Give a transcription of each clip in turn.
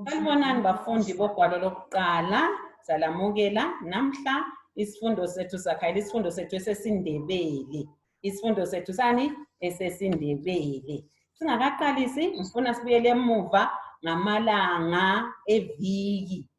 Salibonani bafundi bogwalo lokuqala salamukela namhla isifundo sethu sakhayela isifundo sethu esesindebele isifundo sethu sani esesindebele singakaqalisi ngifuna sibuyele emuva ngamalanga eviki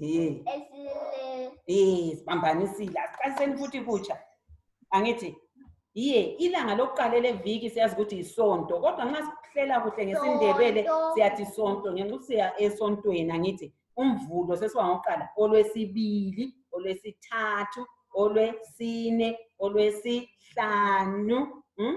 Eh, Esile. eh, sibambanisile asiqaliseni futhi kutsha angithi yiye ilanga lokuqala leviki siyazi ukuthi yisonto kodwa nxa sihlela kuhle ngesindebele Sonto. siyathi sonto ngenxa ukuthi siya esontweni angithi umvulo sesiba ngokuqala olwesibili olwesithathu olwesine olwesihlanu hmm?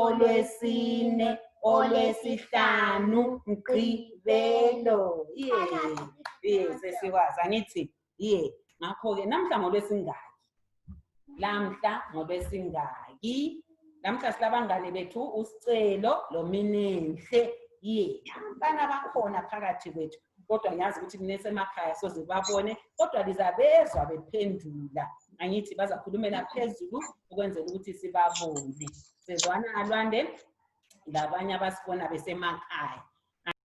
olwesine olwesihlanu mgqibelo ye ye sesikwazi angithi ye ngakho-ke namhla ngolwesingaki lamhla ngolwesingaki namhla silabangane bethu usicelo lominenhle ye abantwana bakhona phakathi kwethu kodwa ngiyazi ukuthi nesemakhaya soze babone kodwa lizabezwa bephendula angithi bazakhulumela phezulu ukwenzela ukuthi sibabone sezwana alwande labanye abasibona besemakhaya